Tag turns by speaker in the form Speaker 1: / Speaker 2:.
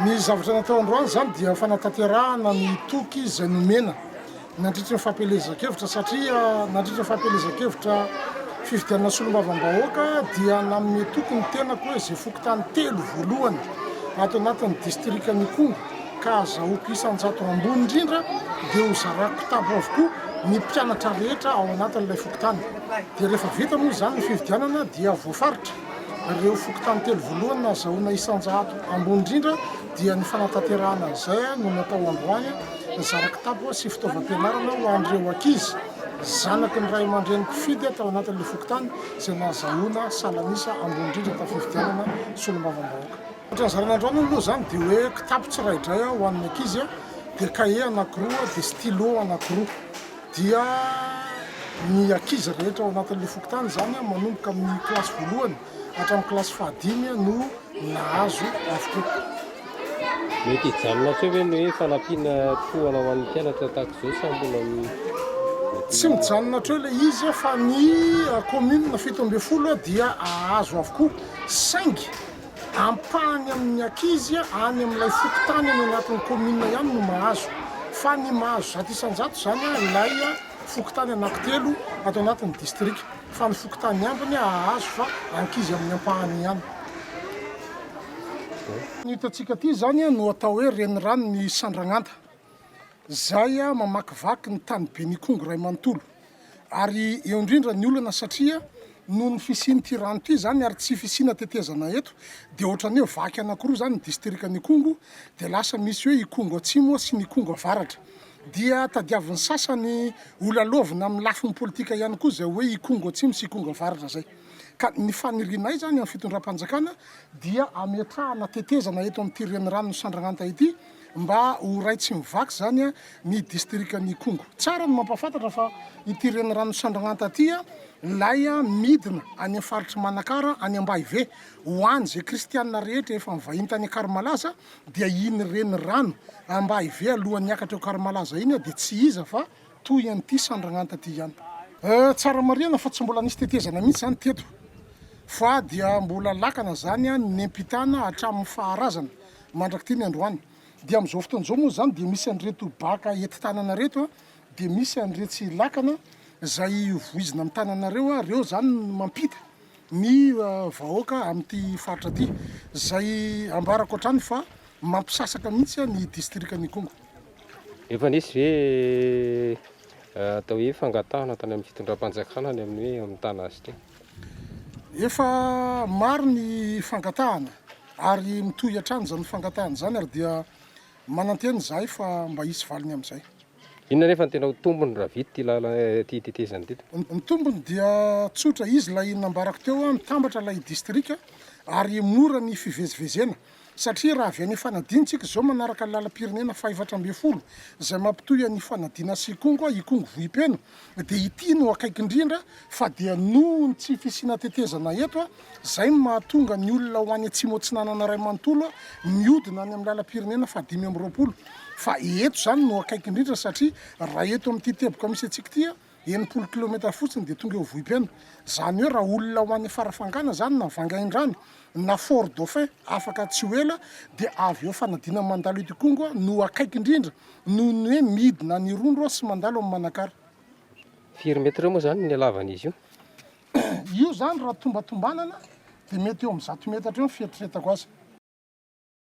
Speaker 1: Ny zavatra natao androany izany dia fanatanterahana ny toky izay nomena nandritry ny fampielezan-kevitra satria nandritry ny fampielezan-kevitra fifidianana solombavambahoaka dia nanome toky ny tenako hoe izay fokontany telo voalohany ato anatin'ny distrikan'i Ikongo ka azahoako isan-jato ambony indrindra dia hozarako kitapo avokoa ny mpianatra rehetra ao anatin'ilay fokontany dia rehefa vita moa izany ny fifidianana dia voafaritra Ireo fokontany telo voalohany nahazahoana isan-jato ambony indrindra dia ny fanatanterahana izay no natao androany, nizara kitapo sy fitaovam-pianarana ho an'ireo ankizy zanaky ny ray aman-dreny mpifidy tao anatin'ilay fokontany izay nahazahoana salan'isa ambony indrindra tamin'ny fifidianana solombavambahoaka. Ohatra ny zarana androany aloha izany dia hoe kitapo tsiraidray ho an'ny ankizy dia kahie anankiroa dia stylo anankiroa. dia ny ankizy rehetra ao anatin'ilay fokontany, izany manomboka amin'ny kilasy voalohany hatramin'ny kilasy fahadimy no nahazo avokoa.
Speaker 2: Mety hijanona hatreo ve ny hoe fanampiana tohana ho an'ny mpianatra tahaka izao sa mbola
Speaker 1: Tsy mijanona hatreo ilay izy fa ny commune fito ambin'ny folo dia hahazo avokoa saingy Ampahany amin'ny ankizy any amin'ilay fokontany any anatin'ny kaominina ihany no mahazo, fa ny mahazo zato isan-jato izany ilay fokontany anankitelo ato anatin'ny distrika, fa ny fokontany ambiny hahazo fa ankizy amin'ny ampahany ihany. Ny hitantsika aty izany no atao hoe reniranon'i Sandragnanta. Zay a mamakivaky ny tany Benikongo ray manontolo ary eo indrindra ny olana satria noho ny fisian'ity rano ity zany ary tsy fisiana tetezana eto dia ohatrany hoe vaky anakiroa zany ny distrikan'i Ikongo dia lasa misy hoe Ikongo atsimo sy ny Ikongo avaratra dia tadiavin'ny sasany ho lalaovina amin'ny lafiny politika ihany koa zay hoe Ikongo atsimo sy Ikongo avaratra zay ka ny fanirianay zany amin'ny fitondram-panjakana dia ametrahana tetezana eto amin'ity reniranon'i Sandragnanta ity mba ho ray tsy mivaky izany ny distrikan'Ikongo. Tsara ny mampahafantatra fa ity reniranon'i Sandragnanta ity ilay midina any amin'ny faritr'i Manakara any Ambahive. Ho an'izay kristianina rehetra efa nivahiny tany Akarimalaza dia iny renirano Ambahive alohan'ny hiakatra eo Akarimalaza iny dia tsy iza fa toy an'ity Sandragnanta ity ihany. Tsara marihana fa tsy mbola nisy tetezana mihitsy izany teto fa dia mbola lakana izany ny nempitana hatramin'ny faharazana mandrak'ity ny androany dia amin'izao fotoana izao moa izany dia misy an'ireto baka ety tanana ireto dia misy an'iretsy lakana izay voizina amin'ny tananareo ary ireo izany no mampita ny vahoaka amin'ity faritra ity izay ambarako hatrany fa mampisasaka mihitsy ny distrikan'i Ikongo. Efa
Speaker 2: nisy ve atao hoe fangatahana tany amin'ny fitondram-panjakana any amin'ny hoe amin'ny Tana Astrem? Efa
Speaker 1: maro ny fangatahana. Ary mitohy hatrany izany fangatahana izany ary dia manantena izahay fa mba hisy valiny amin'izay. Inona anefa no tena
Speaker 2: ho tombony raha vita ity lalana ity tetezana ity tompoko? Ny tombony dia
Speaker 1: tsotra, izy ilay nambarako teo, mitambatra ilay distrika ary mora ny fivezivezena satria raha avy any Ifanadiana isika izao manaraka ny lalam-pirenena faha efatra ambin'ny folo izay mampitohy an'Ifanadiana sy Ikongo, Ikongo Vohipeno, Dia ity no akaiky indrindra fa dia noho ny tsy fisiana tetezana eto izay no mahatonga ny olona ho any Atsimo Atsinanana iray manontolo mihodina any amin'ny lalam-pirenena fahadimy amby roapolo fa eto izany no akaiky indrindra satria raha eto amin'ity teboka misy antsika ity enimpolo kilometatra fotsiny dia tonga eo Vohipeno izany hoe raha olona ho any Farafangana izany na Vangaindrano na Fort Dauphin afaka tsy ho ela dia avy eo fanadinana mandalo eto Ikongo no akaiky indrindra noho ny hoe midina any Irondro aho sy mandalo any Manakara. Firy
Speaker 2: metre moa izany ny halavan'izy io?
Speaker 1: Io izany raha tombatombanana dia mety eo amin'ny zato metatra eo ny fieritreretako azy.